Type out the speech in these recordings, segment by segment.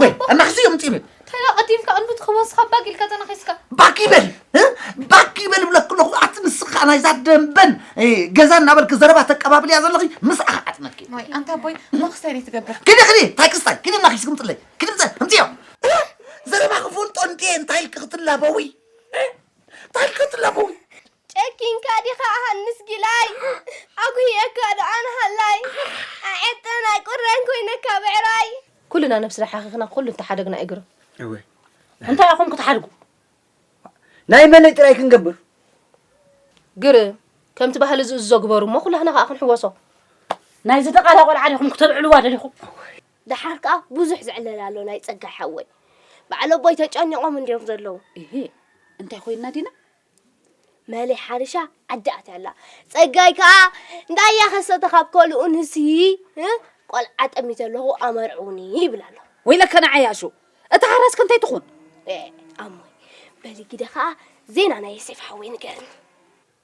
ወይ ኣናክሲ እዮም ፂብል እንታይ ኣቐዲምካ እንዱ ትኽወስኻ ባክ ኢልካ ተናኺስካ ባክ ይበል ባክ ይበል ብለክ ኣለኹ ኣቲ ንስኻ ናይዛ ደንበን ገዛ እናበልክ ዘረባ ተቀባብል እያ ዘለኺ ምስኣ ክዓጥመኪ ወይ ኣንታ ቦይ መኽስተይ ደይ ትገብር ክዲ ክዲ እንታይ ክስታይ ክዲ ናኺስ ክምፅለይ ክዲ ምፀ እምፅዮ ዘረባ ክፈልጦ እንድየ እንታይ ኢልክ ክትላበዊ እንታይ ኢልክ ክትላበዊ ጨኪንካ ዲኻ ሃንስ ጊላይ ኣጉህየካ ዶኣ ንሃላይ ኣዔጠን ኣይቁረን ኮይነካ ብዕራይ። ኩልና ነብስና ሓኺኽና ኩሉ እንተሓደግና እዩ ግርም። እወ እንታይ ኢኹም ክትሓድጉ ናይ መለይ ጥራይ ክንገብር። ግርም ከምቲ ባህሊ ዝእዝዞ ግበሩ እሞ ኩላህና ከኣ ክንሕወሶ። ናይ ዝደቓላ ቆልዓ ዲኹም ክተብዕልዋ ደሊኹም። ደሓር ከኣ ብዙሕ ዝዕለል ኣሎ ናይ ጸጋይ ሓወይ። በዓል ኣቦይ ተጨኒቖም እንድዮም ዘለዉ። እሂ እንታይ ኮይንና ዲና መሌ ሓሪሻ ዓዲ ኣትያ ኣላ። ጸጋይ ከኣ እንዳያ ከሰተ ካብ ከልኡ ንሲ ቆልዓ ጠሚተ ኣለኹ ኣመርዕውኒ ይብል ኣሎ። ወይለከ ንዓይ ኣሹ እታ ሓራስ ከንታይ ትኹን? ኣሞይ በሊ ግደ ከኣ ዜና ናይ ዮሴፍ ሓወይ ንገርኒ።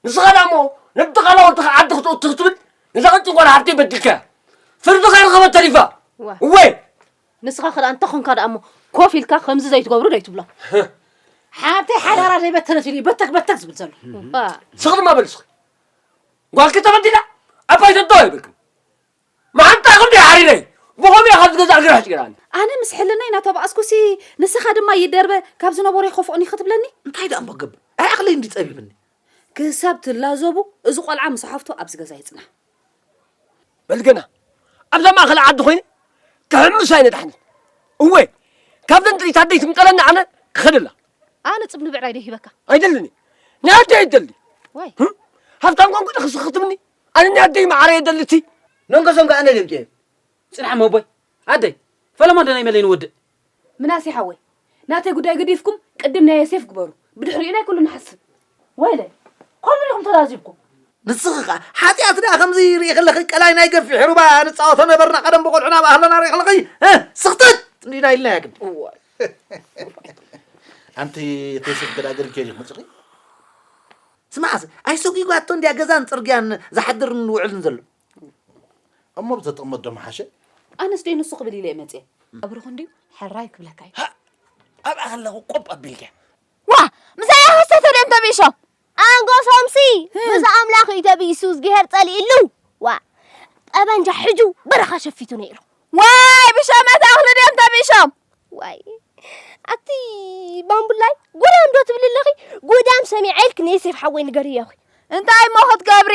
ንስኻ ዳሞ ንድቓላ ወድኻ ዓዲ ክትእቱ ክትብል ንዛ ቅጭን ጓል ሓፍተይ በዲልካያ ፍርዲ ከይረኸበት ተሪፋ። እወ ንስኻ ክዳኣ እንተ ኾንካ ድኣ እሞ ኮፍ ኢልካ ከምዚ ዘይትገብሩ ደይ ትብሎ ሓብተይ ሓዳራ ዘይበተነት ኢሉ በተክ በተክ ዝብል ዘሎ ስኽ ድማ በል ስኽ ጓልኪ ተበዲላ ኣባይ ተዶ ኣይብልክም መዓንጣ ክንዲ ሓሪረይ ብኸምኡ እየ ካብ ዝገዛእ ግራሽ ጭራኒ ኣነ ምስ ሕልናይ ናተባኣስኩሲ ንስኻ ድማ ይደርበ ካብ ዝነበሮ ይኸፍኦኒ ክትብለኒ እንታይ ደኣ እሞ ገብር ኣይ ዓቕለይ እንዲ ጸቢብኒ ክሳብ ትላዘቡ እዚ ቆልዓ ምስ ሓፍቱ ኣብዚ ገዛ ይጽናሕ በል ገና ኣብዛ ማእኸል ዓዲ ኮይነ ክሕምስ ኣይነድሓንን እወ ካብዘን ጥሪት ኣደይ ትምጠለኒ ኣነ ክኸደላ ኣነ ፅብ ንብዕራይ ዶ ሂበካ ኣይደልኒ ናይ ኣደይ ኣይደሊ ወይ ሃብታም ኮንኩ ዶ ክስኽትምኒ ኣነ ናይ ኣደይ ማዕረ የደሊ እቲ መንገሶም ከ ኣነ ደምቂ ፅንሓ መቦይ ኣደይ ፈለማ ዶ ናይ መለይ ንወድእ ምናሴ ሓወይ ናተይ ጉዳይ ገዲፍኩም ቅድም ናይ ዮሴፍ ግበሩ ብድሕሪኡ ናይ ኩሉ ንሓስብ። ወይለ ከምኡ ዲኹም ተዛዚብኩም። ንስኺ ከኣ ሓጢኣት ደኣ ከምዚ ርኢኺ ኣለኺ ቀላይ ናይ ገፊሕ ሩባ ንጻወቶ ነበርና ቀደም ብቆልዑና ኣብ ኣህለና ርኢኺ ኣለኺ ህ ስኽተት እንዲና ኢልናያ ግን ኣንቲ ተይስብ ገዳግር ኬሪ መጽኺ ስማዕሲ ኣይሰጒጓቶ እንዲያ ገዛን ጽርግያን ዝሓድርን ዝውዕልን ዘሎ እሞ ብተጥቕመት ዶ ምሓሸ? ኣነስ ዶ ንሱ ክብል ኢለ እየ መፅየ። ቀብርኹ እንድዩ ሕራይ ክብለካ እዩ። ሃእ! ኣብኣ ከለኹ ቆብ ኣቢልኪ። ዋእ! ምሳይ እያ ኸሰተ ድዮም ተብኢሾም? ኣንጎሶምሲ ምስ ኣምላኽ እዩ ተብኢሱ፣ እዝግሄር ፀሊእሉ። ዋእ! ጠበንጃ ሕጁ በረኻ ሸፊቱ ነይሩ። ዋይ! ብሸመት ኣኽሊ ድዮም ተብኢሾም? ዋይ! ኣቲ ባምቡላይ ጉዳም ዶ ትብሊ ኣለኺ? ጉዳም ሰሚዐ ኢልኪ ንዮሴፍ ሓወይ ንገርዮ እኺ። እንታይ እሞ ክትገብሪ?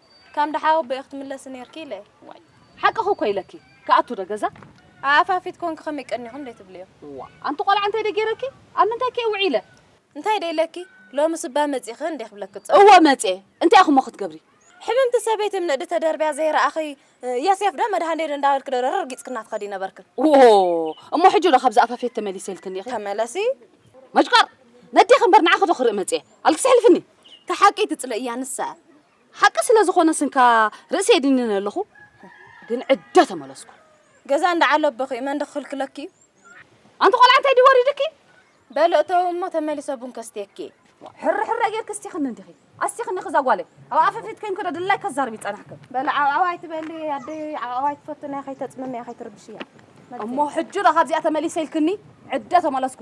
ከም ደሓ ኣቦይ ክትምለሲ ኔርኪ ኢለ ዋይ ሓቅኺ እኮ ኢለኪ ክኣቱ ዶ ገዛ ኣኣፋፊት ኮንኪ ከመይ ቀኒኹም ደይ ትብልዮ እዋ ኣንቲ ቆልዓ እንታይ ደይ ጌረኪ ኣብ ምንታይ ከ ውዒለ እንታይ ደይ ኢለኪ ሎምስ እባ መጺኺ እንዴ ክብለኪ ዝጸንሐ እወ መጽየ እንታይ ኢኹሞ ክትገብሪ ሕምምቲ ሰበይቲ ም ንእዲ ተደርብያ ዘይረኣኺ የሴፍ ዶ መድሃኔ ዶ እንዳበልኪ ዶ ረርጊጽክና ትኸዲ ነበርኪ ዎዎ እሞ ሕጂ ዶ ካብዚ ኣፋፌት ተመሊሰ ኢልክኒ ኢኺ ተመለሲ መጭቋር ነዴኺ እምበር ንዓኺ ዶ ክርኢ መጽየ ኣልክሲ ኣሕልፍኒ እታ ሓቂ ትጽለእያ ንሳ እያ ሓቂ ስለ ዝኾነ ስንካ ርእሲ የድንን ኣለኹ ግን ዕደ ተመለስኩ ገዛ እንዳ ዓለበኺ መን ክኽልክለኪ እዩ ኣንቲ ቆልዓ እንታይ ድዩ ወሪድኪ በሎ እተው እሞ ተመሊሰ ቡን ከስትየኪ ሕሪ ሕረ ጌርኪ እስቲኽኒ እንዲኺ ኣስቲኽኒ ክዛ ጓለይ ኣብ ኣፈፊት ከይንኩ ዶ ድላይ ከዛርብ ይጸናሕኪ በሎ ዓብዓብ ኣይትበሊ ኣደይ ዓብዓብ ኣይትፈትንያ ከይተጽምምያ ከይትርብሽያ እሞ ሕጂ ዶ ካብዚኣ ተመሊሰ ኢልክኒ ዕደ ተመለስኩ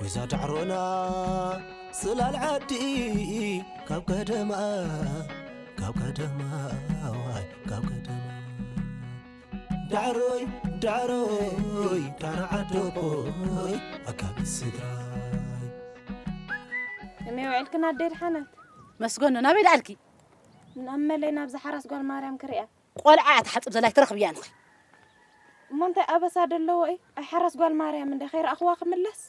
ወይዛ ዳዕሮና ስላል ዓዲ ካብ ቀደማ ካብ ቀደማ ዋይ ካብ ቀደማ ዳዕሮይ ዳዕሮይ ዳዕሮ ዓዶቦይ ኣካቢ ስድራይ እመይ ውዒልክን ኣደይ ድሓነት መስገኑ ናበይ ደኣልኪ ናብ መለይ ናብዛ ሓራስ ጓል ማርያም ክሪኣ ቆልዓ እያ ትሓጽብ ዘላ ኣይትረኽብያን ኢኺ። እሞ እንታይ ኣበሳ ደለዎ እዩ ኣይ ሓራስ ጓል ማርያም እንደ ከይረኣኽዋ ክምለስ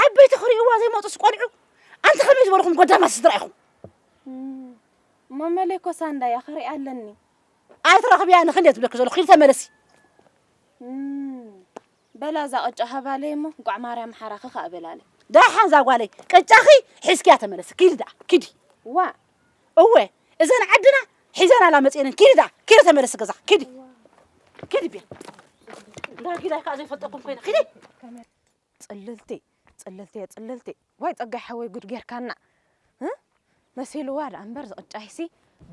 ዓበይቲ ክሪእዋ ዘይመጡስ ቆልዑ ኣንቲ ከመይ ዝበልኹም ጎዳማት ስድራ ኢኹም እሞ መለይ ኮሳ እንዳያ ክሪኣ ኣለኒ ኣይትረኽብያ ንክንደ ትብለኪ ዘለኹ ኪድ ተመለሲ በላ እዛ ቅጫ ሃባለይ እሞ ጓዕ ማርያም ሓራኺ ከዓ በላለይ ዳሓን እዛ ጓለይ ቅጫኺ ሒዝኪያ ተመለሲ ኪዲ ደኣ ኪዲ ዋ እወ እዘን ዓድና ሒዘን ኣላ መፅኤንን ኪዲ ዳ ኪዲ ተመለሲ ገዛ ኪዲ ኪዲ ቤት እንዳ ጊዳይ ከዓ ዘይፈልጠኩም ኮይነ ኪዲ ፅልልቲ ፅልልቲ እየ ፅልልቲ ዋይ ፀጋይ ሓወይ ጉድ ጌርካና መሲልዋ ድኣ እምበር ዝቕጫይሲ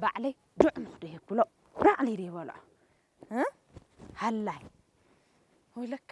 ባዕለይ ዱዕ ምኽዶ የብሎ ባዕለይ ደይበልዖ ሃላይ ወይ ለከ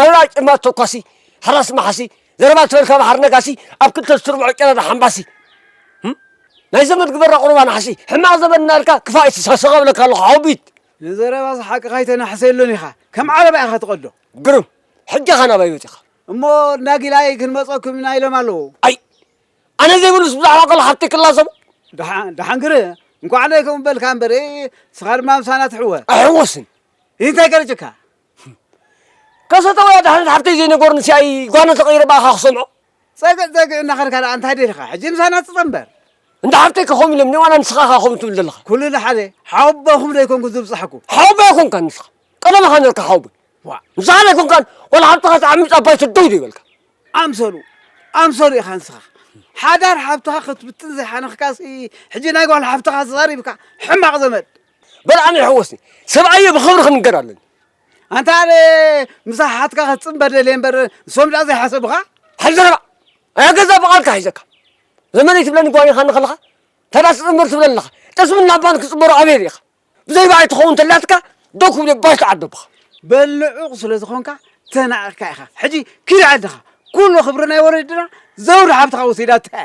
ኣሉላ ጭልማ ተኳሲ ሓራስ መሓሲ ዘረባ ትበል ካብ ሓር ነጋሲ ኣብ ክልተ ዝትርብዖ ጨረር ሓምባሲ ናይ ዘመድ ግበራ ቁሩብ ኣናሕሲ ሕማቕ ዘመድ እናርካ ክፋእ ይትሳሰቐ እብለካ ኣለኹ ሓውቢት ንዘረባ ዝሓቅኻ ኣይተናሕሰሉን ኢኻ ከም ዓረባ ኢኻ ትቐዶ ግርም ሕጂ ኸ ናባይ መጺኻ እሞ ናጊላይ ክንመጸኩም ኢና ኢሎም ኣለዉ ኣይ ኣነ ዘይብሉስ ብዛዕባ ቆል ሓብቲ ክላዘቡ ደሓን ግር እንኳዕ ነይ ከምኡ በልካ እምበር ስኻ ድማ ምሳና ትሕወ ኣይሕወስን እንታይ ገርጭካ ከሰተ ወይ ኣድሓነት ሓፍተይ ዘይነገሩኒ ሲኣይ ጓና ተቀይረ ብኣኻ ክሰምዖ። ጸግዕ ጸግዕ እናኸድካ ደኣ እንታይ ደሊኻ ሕጂ ምሳና ትጸንበር። እንዳ ሓፍተይ ከ ከምኡ ኢሎምኒ ዋላ ንስኻ ኢኻ ከምኡ ትብል ዘለኻ። ኩሉ ንሓደ ሓወቦኹም ዶ ኣይኮንኩን ዝብጻሕኩ። ሓወቦይ ኣይኮንካን ንስኻ ቀደም ኢኻ ኔርካ ሓወቦይ። ዋእ። ንስኻ ዶ ኣይኮንካን ዋላ ሓብትኻ ትዓሚጽ ኣብ ባይቶ ደው ዘይበልካ። ኣምሰሉ ኣምሰሉ ኢኻ ንስኻ። ሓዳር ሓብትኻ ክትብትን ዘይሓነኽካሲ ሕጂ ናይ ጓል ሓፍትኻ ተዛሪብካ። ሕማቕ ዘመድ። በልዓም የሕወስኒ ሰብኣየ ብኽብሪ ክንገር ኣለኒ ኣንታ ኣነ ምስ ኣሓትካ ክትፅምበር ደልየ እምበር ንሶም ድኣ ዘይሓሰቡኻ ሓል ዘረባ ኣያ ገዛ ብቓልካ ሒዘካ ዘመነይ ትብለኒ ጓል ኢኻ ንኸለኻ ታዳ ትፅምበር ትብለ ኣለኻ ጠስምን ናባን ክፅምበሩ ኣበየ ርኢኻ ብዘይ ባዕይ ትኸውን ተላትካ ደው ክብለ ባሽ ትዓዶ ብኻ በልዑቕ ስለ ዝኾንካ ተናቒቕካ ኢኻ ሕጂ ኪድ ዓድኻ ኩሉ ክብሪ ናይ ወለድና ዘውዲ ሓብትኻ ወሲዳቶ እያ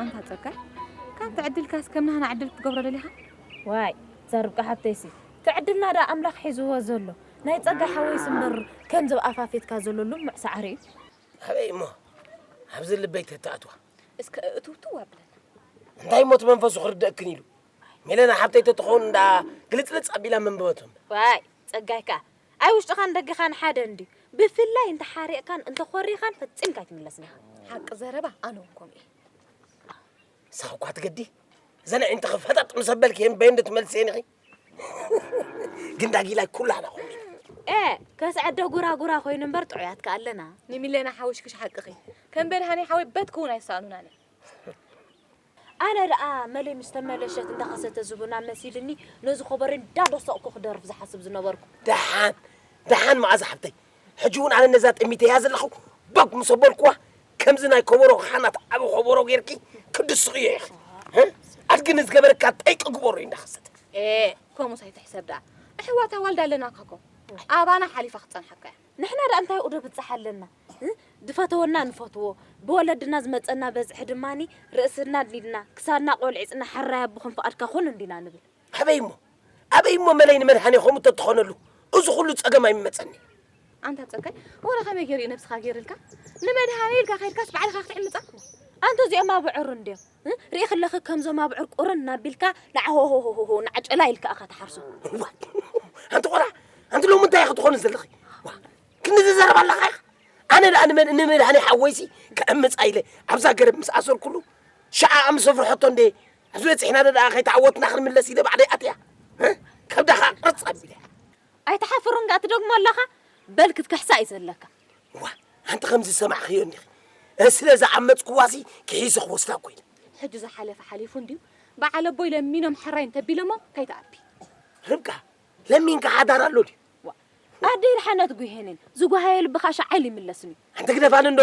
ኣንታ ጸጋይ ካንተ ዕድልካስ ከም ናህና ዕድል ክትገብሮ ደሊኻ? ዋይ እዛ ርብቃ ሓፍተይሲ ትዕድልና ደኣ ኣምላኽ ሒዝዎ ዘሎ ናይ ጸጋይ ሓወይስ እምበር ከምዚ ኣፋፊትካ ዘሎ ልሙዕ ሳዕሪ እዩ። ኣበይ እሞ ኣብዚ ልበይ ተትኣትዋ። እስከ እእትውትው ኣብለና። እንታይ እሞ እቲ መንፈሱ ክርደእክን ኢሉ ሜለና ሓብተይ ተትኸውን እንዳ ግልጽልጽ ኣቢላ መንበበቶ እምበር። ዋይ ጸጋይ ከኣ ኣይ ውሽጥኻን ደገኻን ሓደ እንድዩ ብፍላይ እንተ ሓሪቕካን እንተ ኾሪኻን ፈጺምካ ኣይትምለስን ኢኻ። ሓቂ ዘረባ ኣነ ውን ከምኡ እየ። ንስኺ እኳ ትገዲ እዘን ኣዒንትኺ ፈጠጥ ምስ ኣበልኪ እየን በየን ዶ ትመልስየን ኢኺ ግን ዳጊላይ ኩላህና ኹም ኤ ከስዐ ዶ ጉራጉራ ኮይኑ እምበር ጥዑያት ከ ኣለና። ንሚለና ሓውሽክሽ ሓቅኺ ከም በድሃኔ ሓወይ በት ክውን ኣይሰኣኑናን እዮም። ኣነ ደኣ መለይ ምስ ተመለሸት እንዳ ከሰተ ዝቡና መሲልኒ ነዚ ኮቦረይ እንዳ ደሰቕኩ ክደርፍ ዝሓስብ ዝነበርኩ። ደሓን ደሓን መኣዛ ሓብተይ ሕጂ እውን ኣነ ነዛ ጠሚተያ ዘለኹ ቦግ ምስ ኣበልኩዋ ከምዚ ናይ ኮቦሮ ኻናት ዓቢ ኮቦሮ ጌርኪ ክትድስቕዮ ኢኺ ህ ኣድጊ ንዝገበረካ ጠይቂ ግበሮ እንዳ ከሰተ። ኤእ ከምኡስ ኣይትሕሰብ ደኣ ኣሕዋት ኣዋልድ ኣለናካኮ ኣባና ሓሊፋ ክትጸንሓካ እያ። ንሕና ድኣ እንታይ ኡዶ ብጻሕ ኣለና ድፈተወና ንፈትዎ ብወለድና ዝመጸና በዝሒ ድማ ርእስና ኣድኒድና ክሳድና ቆልዒጽና ሐራይ ኣቦኽን ፍቃድካ ኩን እንዲና ንብል። ኣበይ እሞ ኣበይ እሞ መለይ ንመድሃኔ ከምኡ ተትኾነሉ እዚ ኹሉ ጸገም ኣይምመጸን። ኣንታ ጸጋይ ወረ ከመይ ጌሩ እዩ ነብስኻ ጌርልካ ንመድሃኔ ኢልካ ከድካስ ባዕልኻ ክትዕምጻ ኣንተ እዚኦም ኣብዑር እንድዮም። ሪኢክለኺ ከምዞም ኣብዑር ቁርን ናቢልካ ላዕሆሆሆሆ ናዕጨላ ኢልካ እኻ ትሓርሶ። ኣንቲ ቆራ ኣንቲ ሎሚ እንታይ ክትኾኑ ዘለኺ ክንዚ ዘረባ ኣለኻ ኢኻ ኣነ ደኣ ንመን ንመድሃኒ ሓወይሲ ከዕምፅ ኣይለ ኣብዛ ገረብ ምስ ኣሰርኩሉ ሸዓኣ ምስ ኣፍርሐቶ እንደ ኣብዚ በፂሕና ደኣ ከይተዓወትና ክንምለስ ኢለ ባዕደይ ኣትያ ከብዳኻ ቅርፅ ኣቢለ ኣይተሓፍሩን ዳኣ ትደግሞ ኣለኻ በል ክትክሕሳ እዩ ዘለካ እዋ ኣንቲ ከም ዝሰማዕኽዮ እኒኺ ስለ ዝዓመፅክዋሲ ክሒሰ ክወስዳ ኮይነ ሕጂ ዝሓለፈ ሓሊፉ እንድዩ በዓል ኣቦይ ለሚኖም ሕራይ እንተቢሎሞ ከይትኣቢ ርብቃ ለሚንካ ሓዳር ኣሎ ድዩ ኣደይ ርሓነት ጉሄንን ዝጓሃየ ልብኻ ሸዓል ይምለስን እዩ ኣንቲ ግደፋን እንዶ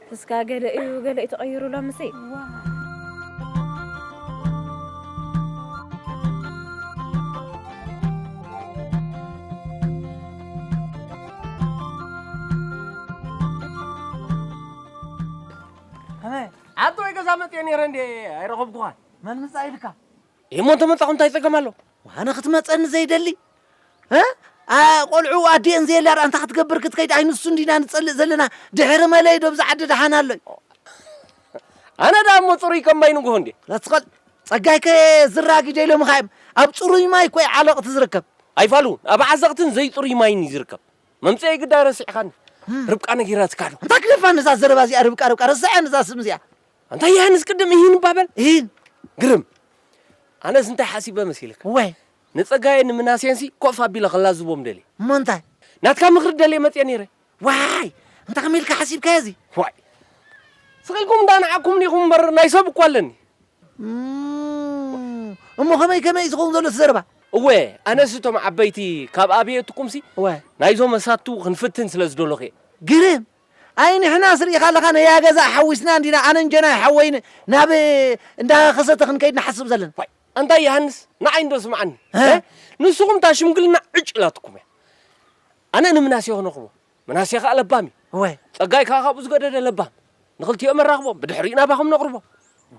እስካ ገለ እዩ ገለ እዩ ተቀይሩ ሎምሲ። ኣቶ ወይ ገዛ መፅኤ ነይረ እንዴ ኣይረኸብኩኻን። መን ምፃ ኢልካ እሞ እንተመጻኹ እንታይ ጸገም ኣሎ? ኣነ ክትመጸኒ ዘይደሊ እ ኣ- ቆልዑ ኣዲኤን ዘየላ ድኣ እንታይ ክትገብር ክትከይድ ኣይ ንሱ እንዲና ንጸልእ ዘለና ድሕሪ መለይ ዶ ብዛ ዓዲ ደሓን ኣሎይ ኣነ ድኣ እሞ ጽሩይ ከም ማይ ንግሆ እንዴ። ለትኸል ጸጋይ ከ ዝራጊ ዶ ኢሎምኻ እዮም ኣብ ጽሩይ ማይ እኮ እዩ ዓለቕቲ ዝርከብ ኣይፋሉ ኣብ ዓዘቕትን ዘይጽሩይ ማይን እዩ ዝርከብ። መምጽኤይ ግዳ ረሲዕኻኒ። ርብቃ ነጊራትካ ዶ? እንታይ ክደፋኒ እዛ ዘረባ እዚኣ ርብቃ ርብቃ ረስዐን እዛ ስም እዚኣ ኣንታ ዮሃንስ ቅድም እሂን እባ በል እሂን ግርም ኣነስ እንታይ ሓሲበ መሲልካ እዋይ ንጸጋዬን ንምናሴንሲ ኮፍ ኣቢለ ከላዝቦም ደልየ እሞ እንታይ ናትካ ምኽሪ ደልየ መጽየ ነይረ ዋይ እንተ ከመይ ኢልካ ሓሲብካዮ እዚ ዋይ ስቕ ኢልኩም እንዳ ንዓኩምኒ ኢኹም እምበር ናይ ሰብ እኮ ኣለኒ እም፣ እሞ ከመይ ከመይ እዩ ዝኸውን ዘሎ እቲ ዘረባ እወ ኣነስ እቶም ዓበይቲ ካብ ኣብየትኩምሲ እዋይ ናይዞም መሳቱ ክንፍትን ስለ ዝደለኹ እየ ግርም ኣይ ንሕናስ ርኢኻ ኣለኻ ነያ ገዛ ኣሓዊስና እንዲና ኣነን ጀናይ ሓወይ ናብ እንዳ ከሰተ ክንከይድ ንሓስብ ዘለና። ዋይ ኣንታ የሃንስ ንዓይ እንዶ ስምዓኒ እ ንስኹም እታ ሽምግልና ዕጭ ኢላትኩም እያ ኣነ ንምናሴ ኾነኽዎ ምናሴ ከኣ ለባም እዩ ወይ ጸጋይ ከኣ ካብኡ ዝገደደ ለባም ንኽልቲኦም ኣራኽቦም ብድሕሪኡ ናባኹም ነቕርቦም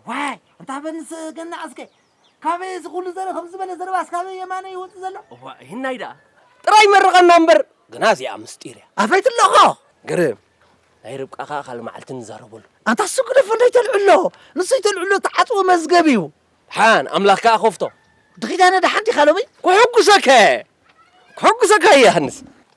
ዋይ ኣንታ በንስ ገና ኣስከ ካበይ እዚ ኩሉ ዘርኢ ከምዚ ዝበለ ዘረባስ ካበይ የማነ ይወጽእ ዘሎ። እዋእ ይህናይ ደኣ ጥራይ መርቐና እምበር ግና እዚኣ ምስጢር እያ። ኣፈይ ትለኾ! ግርም! ናይ ርብቃ ከኣ ካልእ መዓልቲ ንዛረበሉ። ኣንታ እሱ ግደፎ ደይተልዕሎ ንሱ ይተልዕሎ እተዓጽወ መዝገብ እዩ። ድሓን ኣምላኽ ከኣ ከፍቶ። ድኺዳነ ድሓን ዲኻ ሎሚ? ክሕጉሰከ ክሕጉሰካ ይሃንስ።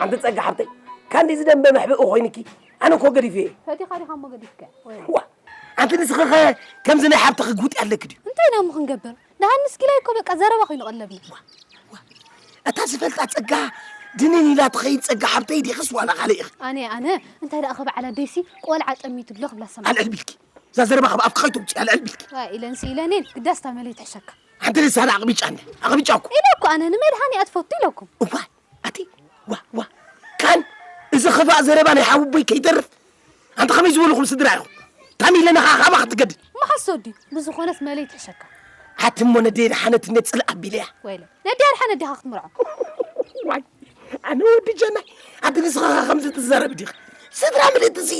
ሓንቲ ጸጋ ሓብተይ ካንዲ ዝደንበ መሕብኢ ኮይንኪ ኣነ እኮ ገዲፈ እየ ፈቲኻ ዲኻ እሞ ገዲፍከ ዋ ኣንቲ ንስኺ ኸ ከምዚ ናይ ሓብትኺ ጉጢ ኣለኪ ድዩ እንታይ ኢና እሞ ክንገብር ደሃን ንስኪላይ እኮ በቃ ዘረባ ኮይኑ ቀለብና እታ ዝፈልጣ ጸጋ ድንን ኢላ ትኸይድ ጸጋ ሓብተይ ዲኽስ ዋላ ካልእ ኢኺ ኣነ ኣነ እንታይ ደኣ ከበዓል ኣደይሲ ቆልዓ ጠሚቱ ኣሎ ክብላ ሰማ ኣልዕል ቢልኪ እዛ ዘረባ ካብ ኣብኪ ከይትውፅእ ኣልዕል ቢልኪ ኢለንሲ ኢለኔን ግዳስ ታመለይ ትሕሸካ ሓንቲ ልሳን ኣቕቢጫ ኣቕቢጫ እኮ ኢለ እኮ ኣነ ንመድሃኒ ኣትፈቱ ኢለኩም እዋይ ኣቲ ዋ ዋ ካን እዚ ኽፋእ ዘረባ ናይ ሓውቦይ ከይተርፍ ኣንተ ከመይ ዝበልኹም ስድራ ኢኹም ታሚለ ንኻ ካባ ክትገድድ መሓሶ ድዩ ብዝኾነስ መለይ ትሕሸካ ኣቲ እሞ ነደይ ደሓነት እንዴት ጽልእ ኣቢለያ ወይለ ነደይ ኣድሓነት ዲኻ ክትምርዖ ዋይ ኣነ ወዲ ጀናይ ኣቲ ንስኻ ከምዚ ትዛረብ ዲኻ ስድራ ምልእቲ እዚ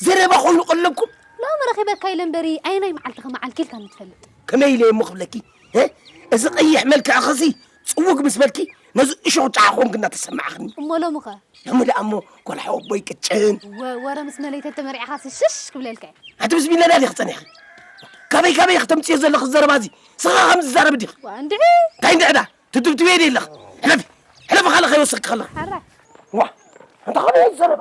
ዘረባ ኮይኑ ቀለብኩም ሎሚ ረኺበካ ኢለ እምበሪ ኣየናይ መዓልቲ ከመዓልኪ ኢልካ ንትፈልጥ ከመይ ኢለ እሞ ክብለኪ እዚ ቀይሕ መልክዕኽሲ ጽውግ ምስ በልኪ ነዚ እሾኽ ጨዓ ኮንክ እናተሰማዕኽኒ እሞ ሎሚ ኸ ሎሚ ደኣ እሞ ቈልሓ ወቦይ ቅጭን እወ ወረ ምስ መለይተ ተመሪዕኻሲ ሽሽ ክብለልካ እየ ኣቲ ምስ ቢለዳ ዲኺ ጸኒሕኺ ካበይ ካበይ ኢኺ ተምጽዮ ዘለኺ ዘረባ እዚ ስኻ ከምዚ ዛረቢ ዲኺ ዋ እንድዒ እንታይ እንድዒ ደኣ ትድብድብየ ድየ ኣለኺ ሕለፊ ሕለፊ ካልእ ከይወሰኽኪ ከለኺ ሓራ ዋ እንታይ ኾነ ዘረባ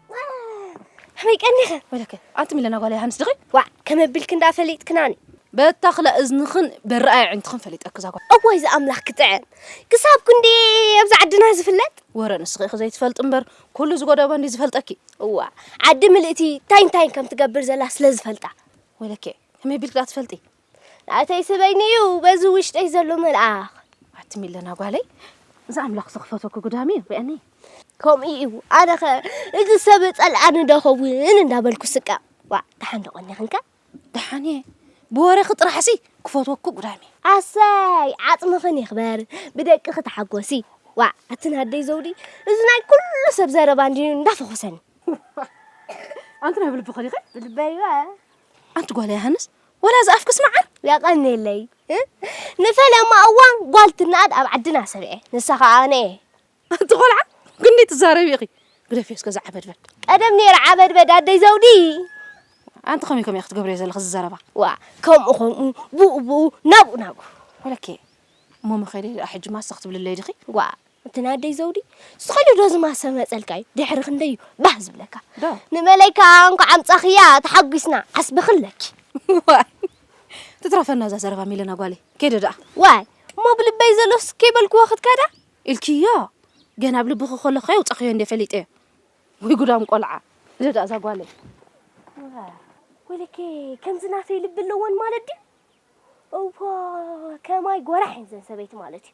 ሕመይ ቀኒኸ ወለከ ኣንቲ ምለና ጓል ዮሃንስ ድኺ ዋዕ ከመብልክ እንዳ ፈሊጥክናኒ በታኽለ እዝንኽን በረኣይ ዕንትኽን ፈሊጠክ ዛጓ እዋይ ዝኣምላኽ ክጥዕም ክሳብ ክንዲ ኣብዚ ዓድና ዝፍለጥ ወረ ንስኺ ኢኺ ዘይትፈልጥ እምበር ኩሉ ዝጎደበ እንዲ ዝፈልጠኪ እዋ ዓዲ ምልእቲ እንታይ እንታይን ከም ትገብር ዘላ ስለ ዝፈልጣ ወለከ ከመይ ቢልክ ዳ ትፈልጢ ናተይ ስበይኒ እዩ በዚ ውሽጠይ ዘሎ መልኣኽ ኣቲ ሚለና ጓለይ እዚ ኣምላኽ ዝኽፈቶ ክጉዳም እዩ ሪኣኒ ከምኡ እዩ ኣነኸ እዚ ሰብ ጸልኣኒ ዶ ኸውን እንዳበልኩ ስቀ ዋ ደሓን ደቆኒ ክንከ ደሓን እየ ብወረኺ ጥራሕሲ ክፈትወኩ ጉዳም እዩ ኣሰይ ዓጽምኽን ይኽበር ብደቅኺ ተሓጎሲ ዋ ኣቲ ናደይ ዘውዲ እዚ ናይ ኩሉ ሰብ ዘረባ እንድዩ እንዳፈኾሰኒ ኣንቲ ናይ ብልቢ ኸሊኸ ብልበይ ዋ ኣንቲ ጓል ያሃንስ ወላ ዝኣፍክስ መዓር። የቐኔለይ ንፈለማ እዋን ጓል ትነኣድ ኣብ ዓድና ሰሚዐ ንሳ ከኣ ኣነ እየ። ኣንቲ ቆልዓ ክንደይ ትዛረቢ ኢኺ ግደፍዮ እስከ እዚ ዓበድበድ። ቀደም ነይረ ዓበድበድ ኣደይ ዘውዲ። ኣንቲ ከመይ ከመይ ኢኺ ትገብርዮ ዘለኺ እዚ ዘረባ። ዋእ ከምኡ ከምኡ ብኡ ብኡ ናብኡ ናብኡ። ወለኪ እሞ መኸደይ ደኣ ሕጂ ማሰ ክትብልለይ ዲኺ። ዋእ እቲ ናይ ኣደይ ዘውዲ ዝኸዲ ዶ ዝማሰ መጸልካ እዩ ድሕሪ ክንደይ እዩ ባህ ዝብለካ ንመለይ ከዓ እንኳዕ ኣምጻኽያ ተሓጒስና ዓስቢ ክለኪ ዋይ ትትረፈና እዛ ዘረባ ሚለና ጓለይ ከይደ ደኣ ዋይ እሞ ብልበይ ዘሎስ ከይበልክዎ ክትከዳ ኢልክዮ ገና ኣብ ልብኺ ከሎ ከ የውጻኽዮ እንደ ፈሊጠዮ ወይ ጉዳም ቆልዓ ኢለ ደኣ እዛ ጓለይ ወይለከ ከምዚ ናተይ ልቢ ኣለወን ማለት ድዩ እዋ ከማይ ጎራሕ እየን ዘን ሰበይቲ ማለት እዩ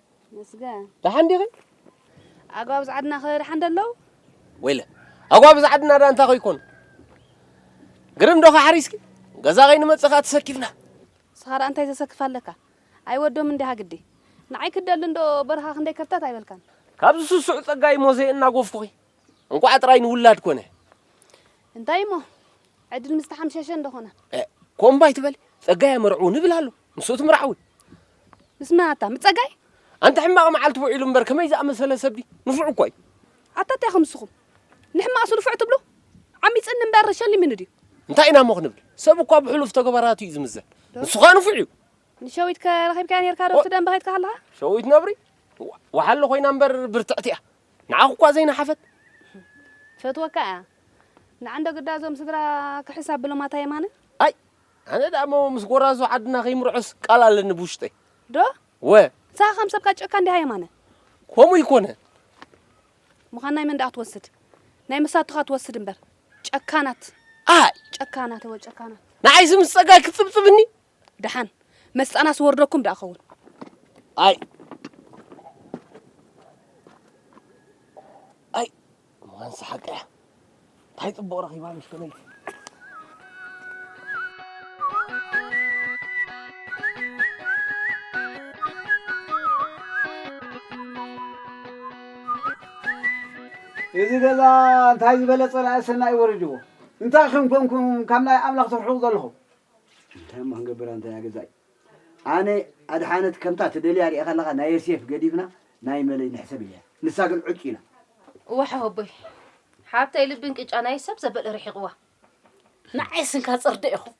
ተመስገን። ደሓን ዲኺ? ኣጓብ ዝዓድናኸ ደሓን ዶ ኣለዉ? ወይለ ኣጓብ ዝዓድና ዳ እንታይ ኮይኮኑ? ግርም ዶኸ ሓሪስኪ? ገዛ ከይንመጽእ ከኣ ተሰኪፍና። ንስኻ ደኣ እንታይ ዘሰክፍ ኣለካ? ኣይወዶምን ዲኻ ግዲ? ንዓይ ክትደሊ እንዶ በረኻ ክንደይ ከብታት ኣይበልካን። ካብዚ ስሱዕ ጸጋይ እሞ ዘየናጎፍኩኺ። እንቋዕ ጥራይ ንውላድ ኮነ። እንታይ እሞ ዕድል ምስ ተሓምሸሸ እንዶ ኮነ። ኮምባይ ትበሊ ጸጋይ ኣመርዕዉ ንብል ኣሎ። ምስኡ ትምራሕ እውን ምስ መን ኣታ ምስ ጸጋይ ኣንቲ ሕማቕ መዓልቲ ውዒሉ እምበር ከመይ ዝኣመሰለ ሰብ ድዩ ንፉዕ እኮ እዩ ኣታ እንታይ ኢኹም ንስኹም ንሕማቕሲ ንፉዕ ትብሉ ዓሚጽኒ እምበር ሸሊሙኒ ድዩ እንታይ ኢና እሞ ክንብል ሰብ እኳ ብሕሉፍ ተግባራቱ እዩ ዝምዘን ንሱ ኸኣ ንፉዕ እዩ ንሸዊት ከ ረኺብካያ ነርካ ዶ ትደንበ ከይትካ ከለኻ ሸዊት ነብሪ ወሓሎ ኮይና እምበር ብርትዕቲ እያ ንዓኹ እኳ ዘይነሓፈት ፈትወካ እያ ንዓንዶ ግዳ እዞም ስድራ ክሕሳብ ብሎም ኣታ የማነ ኣይ ኣነ ደኣ እሞ ምስ ጎራዙ ዓድና ከይምርዖስ ቃል ኣለኒ ብውሽጠይ። ዶ? እወ። ንስኻ ከም ሰብካ ጨካን ዲኻ የማነ? ከምኡ ኣይኮነን። ምዃን ናይ መን ደኣ ክትወስድ? ናይ መሳቱኻ ትወስድ እምበር። ጨካናት! ኣይ! ጨካናት! እወ ጨካናት! ንዓይሲ ምስ ጸጋይ ክትጽብጽብኒ? ደሓን መስጣናስ ወርደኩም ደኣ ኸውን። ኣይ! እዋን ሰሓቀ እያ እንታይ ፅቡቕ ረኺባ ምስ ከመይቲ እዚ ገዛ እንታይ ዝበለ ፀላኢ ሰናይ ወሪድዎ እንታይ ከም ኮንኩም ካብ ናይ ኣምላኽ ትርሕቑ ዘለኹም እንታይ እሞ ክንገብር ኣንታ ገዛይ ኣነ ኣድሓነት ከምታ ትደልያ ሪኤካ ኣለካ ናይ የስየፍ ገዲፍና ናይ መለይ ንሕሰብ ኢለያ ንሳ ግን ዑጭ ኢላ። ዋሕሆቦይ ሓብተይ ልቢ እንቅጫ ናይ ሰብ ዘበል ርሒቅዋ። ንዓይ ስንካ ጽርደ ኢኹም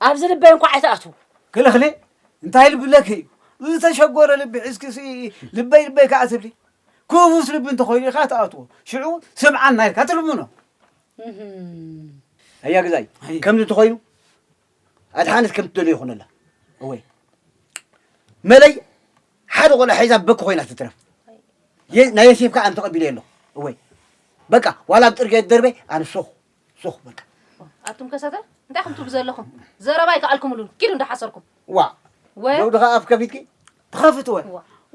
ኣብዚ ልበይ እንኳዕ ኣይትኣትዉ። ክልኽሊ እንታይ ልብለኪ እዩ ዝተሸጎረ ልቢ ሒዝኪ ልበይ ልበይ ከዓ ትብሊ ክፉስ ልቢ እንተኮይኑ ኢኻ ትኣትዎ ሽዑ ስምዓና ኢልካ ትልምኖ ኣያ ገዛይ ከምዚ እንተኮይኑ ኣድሓነት ከም ትደልዮ ይኹነላ እወይ መለይ ሓደ ቆልዓ ሒዛ በኪ ኮይና ትትረፍ ናይ የሴፍ ከዓ እንተቐቢለ የለ እወይ በቃ ዋላ ኣብ ጥርጌ ደርበ ኣነ ሶኹ ሶኹ በቃ ኣቱም ከሰተ እንታይ ከምትብሉ ዘለኹም ዘረባ ይከኣልኩምሉን ኪዱ እንዳሓሰርኩም ዋ ደው ድኻ ኣፍ ከፊትኪ ትኸፍት ወ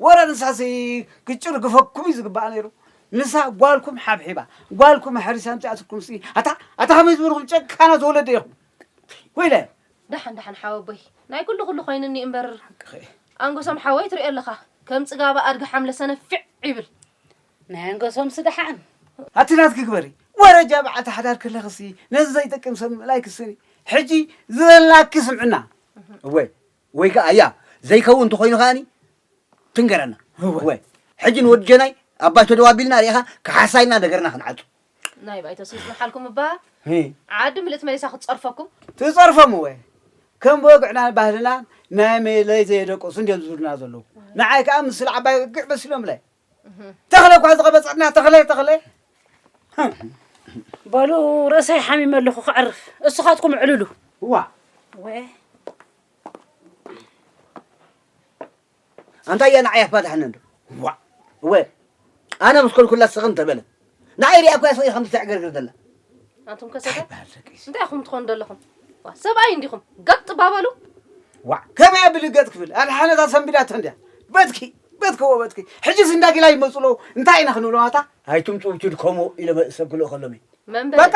ወረ ንሳሲ ግጭር ግፈኩም እዩ ዝግባኣ ነይሩ ንሳ ጓልኩም ሓብሒባ ጓልኩም ኣሕሪሳ ኣምፅኣትኩም ሲ ኣታ ኣታ ከመይ ዝበልኹም ጨካናት ወለደ ኢኹም ኮይነ ደሓን ደሓን ሓወቦይ ናይ ኩሉ ኩሉ ኮይኑኒ እምበር ኣንጎሶም ሓወይ ትሪኦ ኣለኻ ከም ፅጋባ ኣድጊ ሓምለ ሰነፊዕ ይብል ናይ ኣንጎሶም ስደሓን ኣቲ ናትኪ ግበሪ ወረጃ በዓልቲ ሓዳር ክለኽሲ ነዚ ዘይጠቅም ሰብ ምእላይ ክስኒ ሕጂ ዝበላኪ ስምዕና እወ ወይ ከዓ እያ ዘይከውን እንተኮይኑ ከዓኒ ትንገረና እወ ሕጂ ንወዲ ጀናይ ኣብ ባይቶ ደው ኣቢልና ሪኢኻ ክሓሳይና ነገርና ክንዓፁ ናይ ባይቶ ስልጥ መሓልኩም እባ ዓዲ ምልእት መሊሳ ክትጸርፈኩም ትጸርፎም እወ ከም ብወግዕናን ባህልናን ናይ መለይ ዘየደቀሱ እንዲዮም ዝብሉና ዘለዉ ንዓይ ከዓ ምስል ዓባይ ወግዕ መሲሎምለይ ተኽለ እኳ ዝቐበፀትና ተኽለ ተኽለ በሉ ርእሰይ ሓሚመ ኣለኹ ክዕርፍ እሱኻትኩም ዕልሉ እዋ ወ ኣንታይ እያ ንዓይ ኣፋታሕኒ እንዶ ዋእ እወ ኣነ ምስ ኮልኩላ ስኽን ተበለ ንዓይ ሪኣ እኮ እያ ስቕ ከምዚ ተዕገርግር ዘላ ኣንቱም ከሰተ እንታይ ኢኹም ትኾኑ ዘለኹም ሰብኣይ እንዲኹም ገጥ ባበሉ ዋዕ ከመይ ኣብሊ ገጥ ክብል ኣብ ሓነታ ሰንቢዳቶ እንድያ በትኪ በትከዎ በትኪ ሕጂስ እንዳ ጊላ ይመፁ ኣለዉ እንታይ ኢና ክንብሎም ኣታ ኣይትምፁ ትድከሙ ኢለ ሰብ ክልእኸሎም እዩ በቃ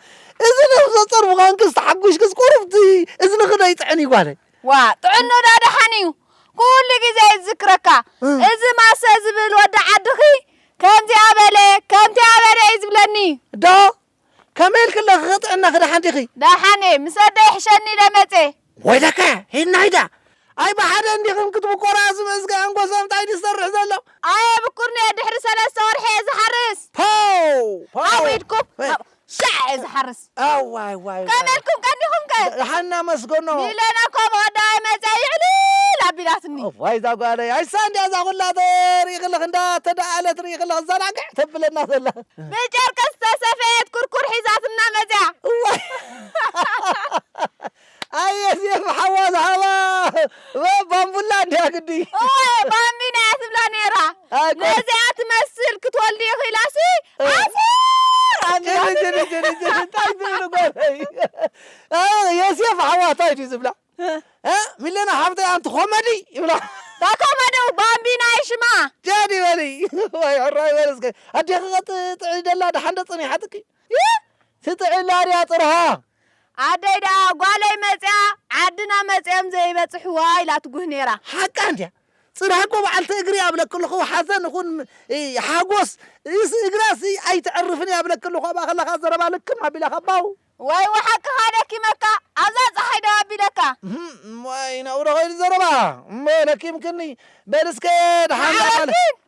እዚ ነብሰ ጾር ምዃንክስ ተሓጒሽክስ ቁሩብቲ እዝንኺ ዶ ይጥዕን እዩ ጓለይ? ዋእ ጥዕንኡ ደኣ ደሓን እዩ ኩሉ ግዜ እዩ ዝዝክረካ እዚ ማሰ ዝብል ወዲ ዓድኺ ከምዚኣ በለ ከምቲኣ በለ እዩ ዝብለኒ። ዶ? ከመይ ኢልኪ ኣለኺ ጥዕናኺ ደሓን ዲኺ? ደሓን እየ ምስ ኣደይ ሕሸኒ ኢለ መጼ። ወይለከ ሂድና ኢዳ ኣይ ብሓደ እንዲኽን ክትብቆራ ዝብእዝገ ኣንጎሶ እንታይ ድዩ ዝሰርሕ ዘሎ። ኣየ ብኩርንየ ድሕሪ ሰለስተ ወርሒ እየ ዝሓርስ። ፖው ፖው ኣብ ኢድኩም እ ኣብ ሻዕ እየ ዝሓርስ። ኣዋይ ዋይ ዋይ ከመይ ኢልኩም ቀኒኹም ከ? ደሓና መስገኖ። ሚለና እኮ መወዳኣይ መጺኣ ይዕልል ኣቢላትኒ። እዋይ እዛ ጓለይ ኣይሳ እንድያ እዛ ኩላ ተ ሪኢ ከለኽ እንዳ ተደኣለት ሪኢ ከለኽ ዛናግዕ ተብለና ዘላ። ብጨርቂ ዝተሰፈየት ኩርኩር ሒዛትና መጺኣ። እዋይ ኣየ ሴፍ ሓዋ ዝሃባ ባምቡላ ድያ ግዲ ኦየ ባምቢና እያ ትብላ ነይራ ነዚኣ ትመስል ክትወልዲ ይኽኢላሲ እንታይ ትብሉ ጓለይ የሴፍ ሓዋ እንታይ ድዩ ዝብላ ሚለና ሓፍተይ ኣንቲ ኮመዲ ይብላ ኮመዲ ባምቢና እዩ ሽማ ጃዲ በሊ ዋይ ሕራይ በልስከ ኣዴኺ ከጥጥዒ ደላ ደሓንደ ፀኒሓትኪ ይህ ትጥዒ ላርያ ጥርሃ። ኣደይ ደኣ ጓለይ መጺኣ ዓድና መጺኦም ዘይበጽሕዋ ኢላ ትጉህ ኔራ። ሓቃ እንድያ ጽርሃ እኮ በዓልቲ እግሪ እያ እብለኪ ኣለኹ ሓዘን ይኹን ሓጎስ እስ እግራ እስ ኣይተዕርፍን እያ እብለኪ ኣለኹ ኣብኣ ከለኻ ዘረባ ልክም ኣቢላ ካብ ባው ወይወ ሓቅኻ ደኪመካ ኣብዛ ጸሓይ ደው ኣቢለካ። እህም ዋይ ናብኡ ዶ ከይዱ ዘረባ እሞ ለኪምክኒ በል እስከ ደሓን ዳኣ ማዓበልቲ ማለት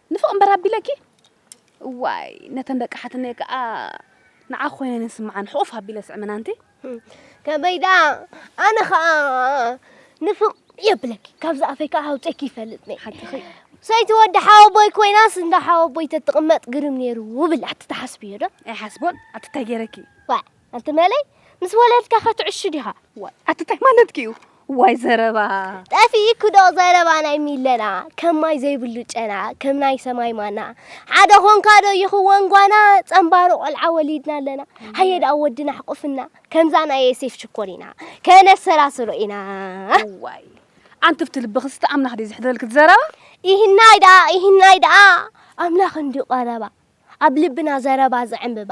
ንፍቕ እምበር ኣቢለኪ እዋይ ነተን ደቂ ሓትነይ ከኣ ንዓኺ ኮይነን ይስምዓን ሕቑፍ ኣቢለ ስዕመን ኣንቲ ከመይ ደኣ ኣነ ከኣ ንፍቕ የብለኪ ካብዚ ኣፈይ ከዓ ኣውፀኪ ይፈልጥ ነይ ሓቅኺ ሰይቲ ወዲ ሓወቦይ ኮይናስ እንዳ ሓወቦይ ተትቕመጥ ግርም ነይሩ ብላ ትትሓስብዮ ዶ ኣይሓስቦን ኣቲ እንታይ ገይረኪ ዋ ኣንቲ መለይ ምስ ወለድካ ከትዕሹ ዲኻ? ዋይ ኣቲ ታይ ማለትኪ እዩ? ዋይ ዘረባ ጠፊእኩ ዶ ዘረባ ናይ ሚለና ከም ማይ ዘይብሉ ጨና ከም ናይ ሰማይ ማና ሓደ ኾንካ ዶ ይኽወን ጓና ጸንባሩ ቆልዓ ወሊድና ኣለና ሃየ ደኣ ወድና ኣሕቁፍና ከምዛ ናይ የሴፍ ሽኮር ኢና ከነሰራስሮ ኢና ዋይ ኣንቲ ብቲ ልብኺ ስቲ ኣምላኽ ድዩ ዝሕድረልኪ ዘረባ ይህናይ ደኣ ይህናይ ደኣ ኣምላኽ እንድዩ ቀረባ ኣብ ልብና ዘረባ ዝዕምብባ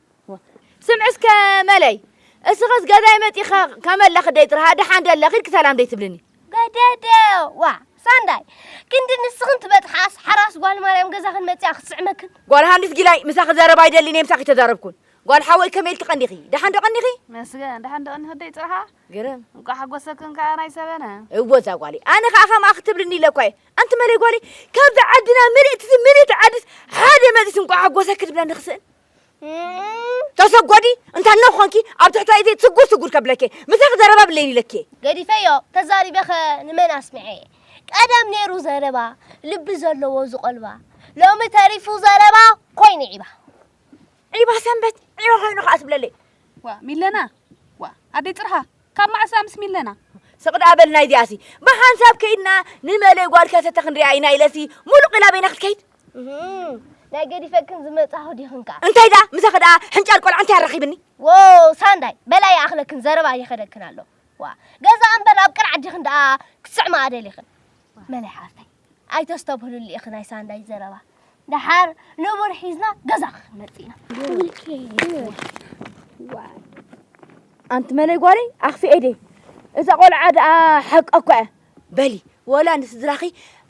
ስምዒ እስከ መለይ እስኽስ ገዛይ መፂኻ ከመለኺ ደይ ጥርሃ ደሓን ደለ ኺድ ክሰላም ደይ ትብልኒ ገደደ ዋ ሳንዳይ ክንዲ ንስኽን ትበፅሓስ ሓራስ ጓል ማርያም ገዛኽን መፅኣ ክትስዕመክን ጓል ሃንዲስ ጊላይ ምሳኺ ዘረባ ኣይደሊን እየ ምሳኺ ተዛረብኩን ጓል ሓወይ ከመይ ኢልኪ ቀኒኺ ደሓን ዶ ቀኒኺ መስገን ደሓን ዶ ቀኒኺ ደይ ጥርሃ ግርም እንኳ ሓጎሰክን ከዓ ናይ ሰበነ እዎ እዛ ጓሊ ኣነ ከዓ ከምኣ ክትብልኒ ኢለ እኳ እየ ኣንቲ መለይ ጓሊ ካብዚ ዓድና ምልእቲ ምልእቲ ዓድስ ሓደ መፅስ እንኳ ሓጎሰ ክትብለኒ ክስእን ተሰጎዲ እንታ ነ ኾንኪ ኣብ ትሕቲ ኢቲ ስጉር ስጉር ከብለኬ ምሳኺ ዘረባ ብለይን ኢለኬ ገዲፈዮ ተዛሪበኸ ንመን ኣስምዐ ቀደም ነይሩ ዘረባ ልቢ ዘለዎ ዝቆልባ ሎሚ ተሪፉ ዘረባ ኮይኑ ዒባ ዒባ ሰንበት ዒባ ኮይኑ ከዓ ትብለለይ ዋ ሚለና ዋ ኣደይ ጥርሃ ካብ መዓስ እያ ምስ ሚለና? ስቕ ደኣ በል ናይዚኣሲ ብሓንሳብ ከይድና ንመለይ ጓል ከሰተ ክንሪኣ ኢና ኢለሲ ሙሉቕ ኢላ በይና ክትከይድ ናይ ገዲፈክን ዝመጻኹ ዲኽን ከኣ እንታይ ደኣ ምሳኺ ደኣ ሕንጫል ቆልዓ እንታይ ኣራኺብኒ ዎ ሳንዳይ በላ ይኣኽለክን ዘረባ ይኸደክን ኣሎ ዋ ገዛ እምበር ኣብ ቅርዓት ዲኽን ደኣ ክትስዕማ ኣደሊኽን መለይ ሓፍተይ ኣይተስተብህልሉ ኢኺ ናይ ሳንዳይ ዘረባ ደሓር ንቡር ሒዝና ገዛ ክንመጽእ ኢና ኣንቲ መለይ ጓለይ ኣኽፊኤ ደይ እዛ ቆልዓ ደኣ ሓቂ እኳ እያ በሊ ወላ ንስድራኺ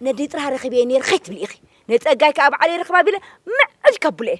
ነዲ ጥራ ረኺበየ ነይር ከይትብሊ ኢኺ ንጸጋይ ከዓ በዓለይ ረኽባ ቢለ ምዕል ከብሎ እየ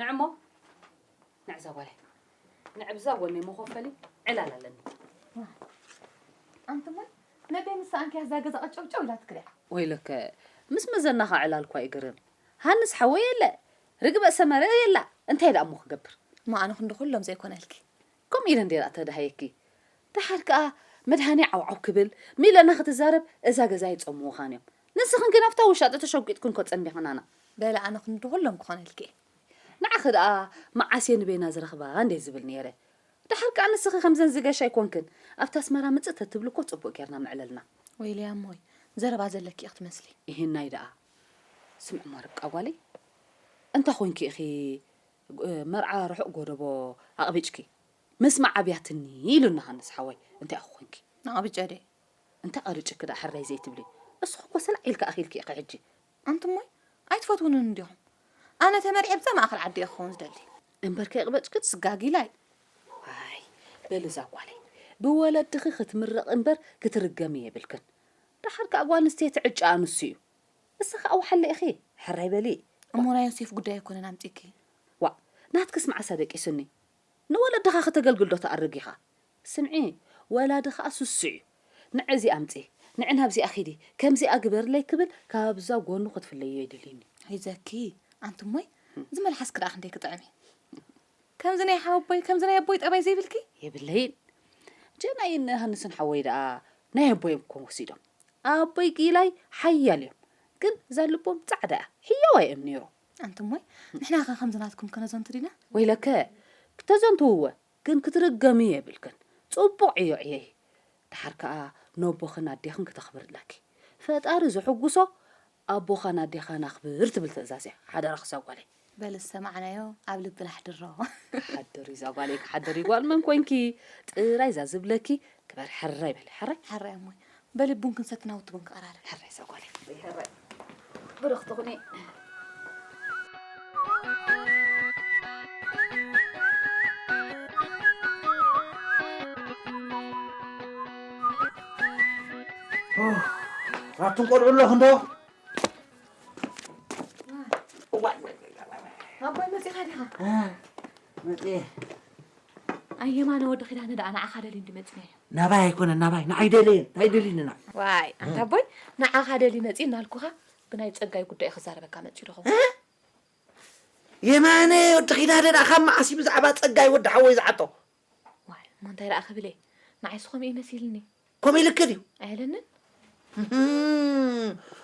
ንዕሞ ንዕዛ ጓለይ ንዕብዛ ወኔ መኾፈሊ ዕላል ኣለኒ። ማይ ኣንቲ ማይ ነደይ ምስ ኣንኪያ እዛ ገዛ ቀጨውጨው ኢላ ትክሪያ። ወይለከ ምስ መዘናኻ ዕላል እኳ ይግርም ሃንስ ሓወይ የለ ርግበ ሰመረ የላ እንታይ ደኣ እሞ ክገብር። ማኣነ ክንዲ ኩሎም ዘይኮነልኪ ከምኡ ኢለን ድየ ደኣ ተዳህየኪ ደሓር ከኣ መድሃኔ ዓውዓው ክብል ሚለና ክትዛረብ እዛ ገዛ ኣይጸምዉኻን እዮም ንስኽን ግን ኣብታ ውሻጠ ተሸጒጥክን እኮ ጸኒሕናና። በለ ኣነ ክንዲ ኩሎም ክኾነልኪ እየ። ንዓኺ ደኣ መዓስ እየ ንበይና ዝረኽባ እንድየ ዝብል ኔረ ደሓር ከኣ ንስኺ ከምዘን ዝገሽ ኣይኮንክን ኣብቲ ኣስመራ ምጽእ ተትብሊ እኮ ጽቡቅ ጌርና ምዕለልና። ወይ ሊያ እሞይ ዘረባ ዘለኪ ኢኺ ትመስሊ። እሂናይ ደኣ ስምዕሞ ርብቃ ጓለይ እንታይ ኮንኪ ኢኺ መርዓ ርሑቕ ጎደቦ ኣቕቢጭኪ ምስማዕ ኣብያትኒ ኢሉኒ ሃንስ ሓወይ እንታይ ኢኹ ኮንኪ ንኣቕቢጨ ድየ እንታይ ቐሪጭኪ ድኣ ሕረይ ዘይትብሊ እስኺ እኮ ሰላዕ ኢልኪ ኣኺልኪ ኢኺ ሕጂ ኣንቱም ሞይ ኣይትፈትዉንን ዲኹም ኣነ ተመርዕየ ኣብዛ ማእኸል ዓዲ እየ ክኸውን ዝደሊ። እምበር ከይቕበጭክትስ ጋጊላይ ኣይ በሊ እዛ ጓለይ ብወለድኺ ክትምረቒ እምበር ክትርገሚ የብልክን ደሓር ከኣ ጓል ኣንስተይቲ ዕጫኣ ንሱ እዩ እሳ ከኣ ወሓለ ኢኺ ሕራይ በሊ። እሞ ናይ ዮሴፍ ጉዳይ ኣይኮነን ኣምጺኪ። ዋእ ናትክስ መዓስ ኣደቂሱኒ ንወለድኻ ከተገልግል ዶ ትኣርግ ኢኻ ስምዒ ወላዲ ከኣ ስሱዕ እዩ ንዒ እዚኣ ኣምጺ ንዒ ናብዚኣ ኪዲ ከምዚኣ ግበርለይ ክብል ካብዛ ጎኑ ክትፍለይዮ የድልዩኒ። ኣይዘኪ ኣንቲ እሞይ እዚ መልሓስኪ ደኣ ክንደይ ክጥዕም እዩ ከምዚ ናይ ሓወቦይ ከምዚ ናይ ኣቦይ ጠባይ ዘይብልኪ። የብለይን ጀናይን ዮሃንስን ሓወይ ደኣ ናይ ኣቦዮም እኮ ወሲዶም። ኣቦይ ጊላይ ሓያል እዮም ግን እዛ ልቦም ጻዕዳ እያ ሕያዋ እዮም ነይሩ ኣንቱም ወይ ንሕና ከ ከምዚ ናትኩም ከነዘንቱ ዲና ወይለከ ክተዘንትውወ ግን ክትርገሚ የብልክን ጽቡቕ ዕዮ ዕየይ ድሓር ከኣ ነቦኽን ኣዴኽን ክተኽብር ኣለኪ ፈጣሪ ዝሕጉሶ ኣቦኻን ኣዴኻን ኣኽብር ትብል ትእዛዝ እያ ሓደራኽ እዛ ጓለይ በል ዝሰማዕናዮ ኣብ ልብና ኣሕድሮ። ክሓድር እዩ ዛጓለይ ክሓድር እዩ ጓል መን ኮንኪ ጥራይ እዛ ዝብለኪ ክበር ሕራይ በሊ ሕራይ ሕራይ ኣሞይ በሊ ቡን ክንሰቲ ናውቲ ቡን ክቐራርብ ሕራይ ዛጓለይ ሕራይ ብርኽቲ ኩኒ ኣቱም ቆልዑ ኣለኹም ዶ ኣቦይ መፂኻ ዲኻ መፅየ ኣየማነ ወዲ ኪዳነ ደኣ ንዓኻ ደልዩ እንዲ መፅናዮ ናባይ ኣይኮነን ናባይ ንዓይ ደለየ እንታይ ደልዩንና ዋይ ኣንታ ኣቦይ ንዓኻ ደልዩ መፂ እናልኩኻ ብናይ ፀጋይ ጉዳይ ክዛረበካ መፂኡ ደኹ የማነ ወዲ ኪዳነ ደኣ ካብ መዓስ እዩ ብዛዕባ ፀጋይ ወዲ ሓወይ ዝዓጦ ዋይ እሞ እንታይ ደኣ ክብል እየ ንዓይሲ ከምኡ እዩ መሲልኒ ከምኡ ኢልኪ ድዩ ኣይለንን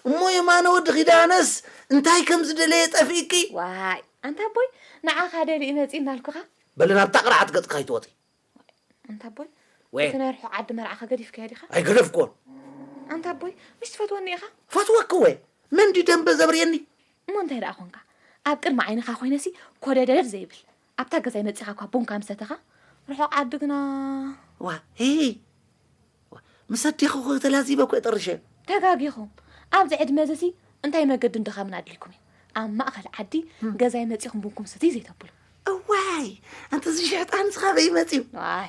እሞ የማነ ወዲ ኪዳነስ እንታይ ከም ዝደለየ ጠፊእኪ ዋይ ኣንታ ኣቦይ ንዓኻ ደሊኡ መፂ እናልኩኻ በሊ ናብታ ቅርዓት ገፅካ ኣይትወፂ ኣንታ ኣቦይ ወይ እቲ ናይ ርሑቕ ዓዲ መርዓኻ ገዲፍካዮ ዲኻ ኣይገደፍክዎን ኣንታ ኣቦይ ምሽ ትፈትወኒ ኢኻ ፈትወኪ ወይ መን ድዩ ደንበ ዘብርየኒ እሞ እንታይ ደኣ ኾንካ ኣብ ቅድሚ ዓይንኻ ኮይነሲ ኮደደድ ዘይብል ኣብታ ገዛይ መጺኻ እኳ ቡንካ ምስ ሰተኻ፣ ርሑቕ ዓዲ ግና። ዋሂይ! ምስ ኣዴኹኸ ተላዚበ እኮ'የ ጠሪሸ። ተጋጊኹም! ኣብዚ ዕድመዚ'ሲ እንታይ መገድን ድኻምን ኣድልዩኩም'ዩ፣ ኣብ ማእከል ዓዲ ገዛይ መጺኹም ቡንኩም ስትዩ ዘይተብሉ። እዋይ! ኣንተ'ዚ ሽሕጣን'ዚ ካበይ'ዩ መጺኡ? ዋይ!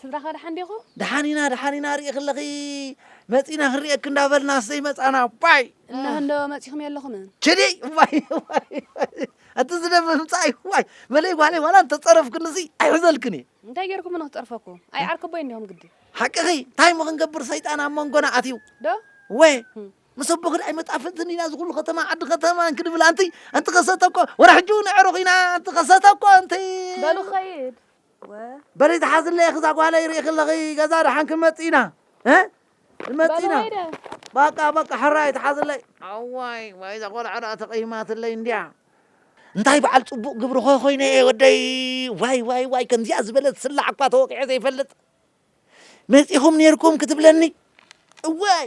ስድራኸ ደሓን ዲኹም? ደሓን ኢና ደሓን ኢና ሪኢኺ ኣለኺ መጺና ክንሪኤኪ እንዳበልናስ ዘይመጻና ባይ እነሀ እንዶ መጺኹም የለኹምን። ቸዲ ዋይ ዋይ ዋይ፣ እቲ ዝደመ ምምጻእ እዩ ዋይ መለይ ጓለይ ዋላ እንተጸረፍክንሲ ኣይሕዘልክን እየ እንታይ ጌርኩምኒ ንኽጸርፈኩም? ኣይ ዓርከቦይ እንዲኹም ግዲ ሓቅኺ እንታይ እሞ ክንገብር ሰይጣን ኣብ መንጎና ኣትዩ ዶ ወ ምስ ኣቦኽን ኣይመጣፍንትን ኢና ዝኹሉ ከተማ ዓዲ ከተማ እንክንብል ኣንቲ ኣንቲ ከሰተ እኮ ወረ ሕጂ እውን ኣዕሩኽ ኢና ኣንቲ ከሰተ እኮ ኣንቲ በሉ ኸይድ በሊ ተሓዝለይ እኺ እዛ ጓለይ ርኢኺ ኣለኺ ገዛ ደሓን ክንመፅእ ኢና ክንመፅእ ኢና በቃ በቃ ሕራይ ተሓዝለይ ኣዋይ ዋይ እዛ ቆልዓ ደኣ ተቐይማትለይ እንድያ እንታይ በዓል ፅቡቕ ግብሪ ኾ ኮይነ እየ ወደይ ዋይ ዋይ ዋይ ከምዚኣ ዝበለት ስላዕ እኳ ተወቂዐ ዘይፈልጥ መፂኹም ነይርኩም ክትብለኒ እዋይ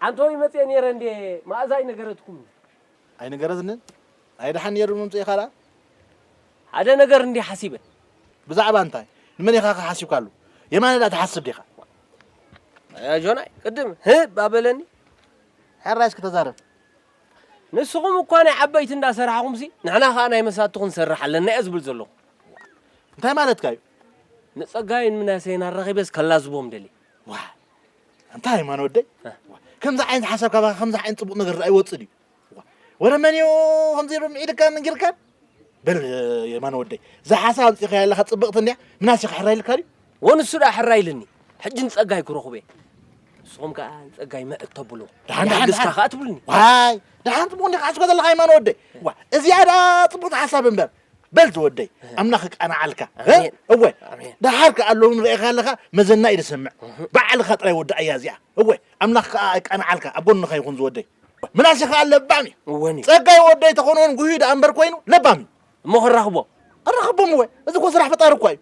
ዓንተወይ መጽየ ኔረ እንዴ ማእዛ ኣይነገረትኩምን። ኣይነገረትንን? ኣይ ደሓን ኔሩ ምምጽኢካ ደኣ። ሓደ ነገር እንዴ ሓሲበ። ብዛዕባ እንታይ? ንመን ኢኻከ ሓሲብካሉ? የማነ ደኣ ትሓስብ ዲኻ? ኣይ ኣጆናይ ቅድም ህ እባ በለኒ። ሕራይ እስኪ ተዛረብ። ንስኹም እኳ ናይ ዓበይቲ እንዳ ሰራሕኹምሲ ንሕና ከኣ ናይ መሳቲ ክንሰርሕ ኣለና እየ ዝብል ዘለኹ። እንታይ ማለትካ እዩ? ንጸጋይን ምናሴን ኣራኺበስ ከላዝቦም ደልየ። ዋይ ኣንታ ሃይማኖት ወደይ ከምዚ ዓይነት ሓሳብ ካባኻ ከምዚ ዓይነት ፅቡቕ ነገር ርኣ ይወፅእ ድዩ ወረ መን እዩ ከምዚ ኢሉ ምዒድካ መንጊርካ በል የማነ ወደይ እዛ ሓሳብ ኣምፂእካ ኣለካ ፅብቕቲ እንዲያ ምናስ ኢኻ ሕራይ ኢልካ ድዩ ወንሱ ዳ ሕራይ ኢልኒ ሕጂ ንፀጋይ ክረኽቦ እየ ንስኹም ከዓ ንፀጋይ ምዕ ተብሎ ልስካ ከዓ ትብልኒ ዋይ ደሓን ፅቡቕ እንዲኻ ሓስበ ዘለካ የማነ ወደይ እዚኣ ዳ ፅቡቕቲ ሓሳብ እምበር በል ዝወደይ ኣምላኽ ይቃናዓልካ እወ ደሓር ከኣ ሎሚ ንርእኻ ኣለኻ መዘና እዩ ዝሰምዕ ባዕልኻ ጥራይ ወድኣያ እዚኣ እወ ኣምላኽ ከኣ ይቃናዓልካ ኣብ ጎንኻ ይኹን ዝወደይ ምናሴ ከኣ ለባም እዩ እወን እዩ ጸጋይ ወደይ ተኾነውን ጉህዩ ደኣ እምበር ኮይኑ ለባም እዩ እሞ ክራኽቦ ኣራኸቦም እወ እዚ እኮ ስራሕ ፈጣሪ እኳ እዩ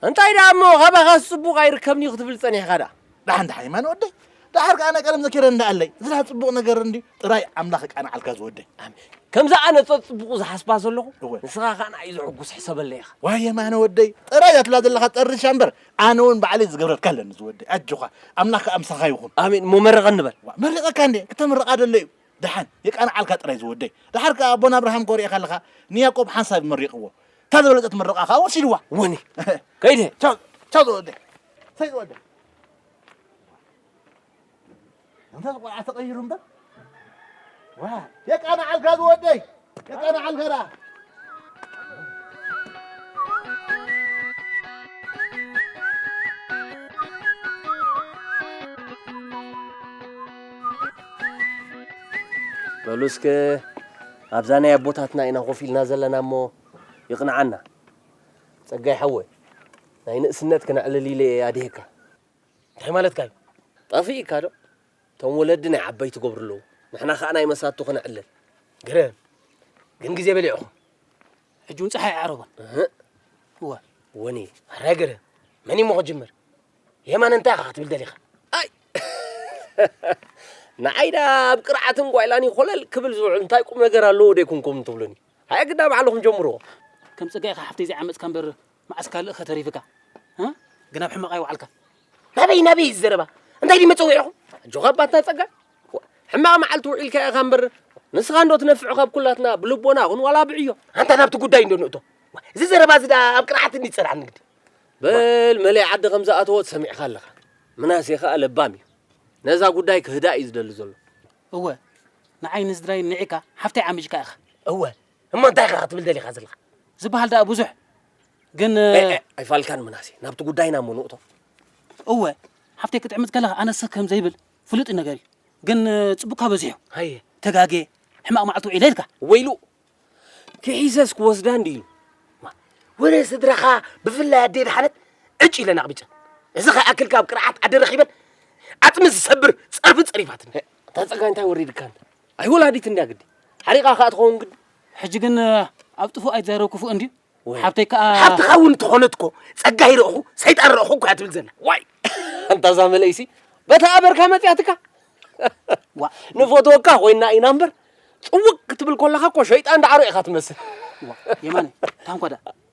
እንታይ ደኣ እሞ ካባኻስ ጽቡቕ ኣይርከብን እዩ ክትብል ጸኒሕካ ደኣ ዳሓን ዳሓን የማነ ወደይ ዳሓር ከኣ ናይ ቀደም ዘኪረ እንዳ ኣለይ እዚ ዳሓር ጽቡቅ ነገር እንድዩ ጥራይ ኣምላኽ የቃናዓልካ ዝወደይ ኣሜን ከምዛ ኣነ ጸጽቡቁ ዝሓስባ ዘለኹ እወ ንስኻ ከኣ ንዓይ ዘሕጉስ ሕሰበለይ ኢኻ ዋይ የማነ ወደይ ጥራይ እዛ ትብላ ዘለኻ ጠርሻ እምበር ኣነ እውን ባዕለይ ዝገብረልካ ኣለኒ ዝወደይ ኣጆኻ ኣምላኽ ከኣ ምሳኻ ይኹን ኣሜን እሞ መርቀኒ በል ዋእ መሪቀካ እንዴ ክተምርቃ ደለዩ ደሓን የቃንዓልካ ጥራይ ዝወደይ። ደሓር ከኣ ኣቦና ኣብርሃም ኮሪዕካ ኣለካ ንያቆብ ሓንሳብ መሪቅዎ እታ ዝበለጸት ምርቃ ከኣ ወሲድዋ። ወኒ ከይደ ቻው ቻው ዝወደይ ሰይ ዝወደይ እንተ ቆልዓ ተቀይሩ እምበር ዋ የቃንዓልካ ዝወደይ በሉ እስከ ኣብዛ ናይ ኣቦታትና ኢና ኮፍ ኢልና ዘለና እሞ ይቕንዓና ጸጋይ ሓወ ናይ ንእስነት ክነዕልል ኢለ ኣድሄካ እንታይ ማለትካ እዩ ጠፊእካ ዶ እቶም ወለዲ ናይ ዓበይቲ ገብሩ ኣለዉ ንሕና ከኣ ናይ መሳቱ ክነዕልል ግርም ግን ግዜ በሊዕኹም ሕጂ ውን ፀሓይ ኣይዓረቦን እህ እወ ወኒ ኣረ ግርም መን እዩሞ ክጅምር የማነ እንታይ ኢኻ ክትብል ደሊኻ ኣይ ንዓይ ዳ ኣብ ቅርዓትን ጓይላን ይኾለል ክብል ዝውዕል እንታይ ቁም ነገር ኣለዎ ደይኩንኩም ትብሉኒ ሃየ ግዳ ባዕልኹም ጀምርዎ ከም ፀጋይ ኢኻ ሓፍተይ ዘይዓመፅካ እምበር መዓስ ካልእኸ ተሪፍካ እ ግን ኣብ ሕማቕ ኣይወዓልካን ናበይ ናበይ እዩ ዝዘረባ እንታይ ድዩ መፀዊዕኹም ኣጆኻ ኣባትና ፀጋይ ሕማቕ መዓልቲ ውዒልካ ኢኻ እምበር ንስኻ እንዶ ትነፍዕ ካብ ኩላትና ብልቦና ኹን ዋላ ብዕዮ ኣንታ ናብቲ ጉዳይ እንዶ ንእቶ እዚ ዘረባ እዚ ደኣ ኣብ ቅርዓት እንዲ ፀርዓ ንግዲ በል መለይ ዓዲ ከም ዝኣተወት ሰሚዕካ ኣለኻ ምናሴ ከዓ ለባም እዩ ነዛ ጉዳይ ክህዳእ እዩ ዝደሊ ዘሎ እወ ንዓይ ንስድራይ ንዒካ ሓፍተይ ዓሚጅካ ኢኻ እወ እሞ እንታይ ኢኻ ክትብል ደሊኻ ዘለኻ ዝበሃል ደኣ ብዙሕ ግን ኣይፋልካን ምናሴ ናብቲ ጉዳይና እሞ ንእቶ እወ ሓፍተይ ክትዕምፅ ከለኻ ኣነሰ ከም ዘይብል ፍሉጥ ነገር እዩ ግን ፅቡቅካ በዚሑ ሃየ ተጋጌ ሕማቅ መዓልቲ ውዒለ ኢልካ ወይሉ ክሒሰስ ክወስዳ እንዲ ኢሉ ወረ ስድራኻ ብፍላይ ኣዴ ድሓነት ዕጭ ኢለን ኣቕቢፀን እዚ ከይኣክል ካብ ቅርዓት ኣደ ረኺበን ዓፅሚ ዝሰብር ፀርፊ ፀሪፋትኒ ተፀጋ እንታይ ወሪድካ ኣይ ወላዲት እንድያ ግዲ ሓሪቓ ከኣ ትኸውን ግዲ ሕጂ ግን ኣብ ጥፉእ ኣይትዛረብ ክፉእ እንድዩ ሓብተይ ከኣ ሓብትኻ እውን እንተኾነት እኮ ጸጋ ይረእኹ ሰይጣን ረእኹ እኮ እያ ትብል ዘላ ዋይ ኣንታ እዛ መለይሲ በታ ኣበርካ መጽያትካ ዋ ንፈትወካ ኮይና ኢና እምበር ጽውቅ ክትብል ከለኻ እኮ ሸይጣን ዳዕሮ ኢኻ ትመስል የማነ ታንኳ ደኣ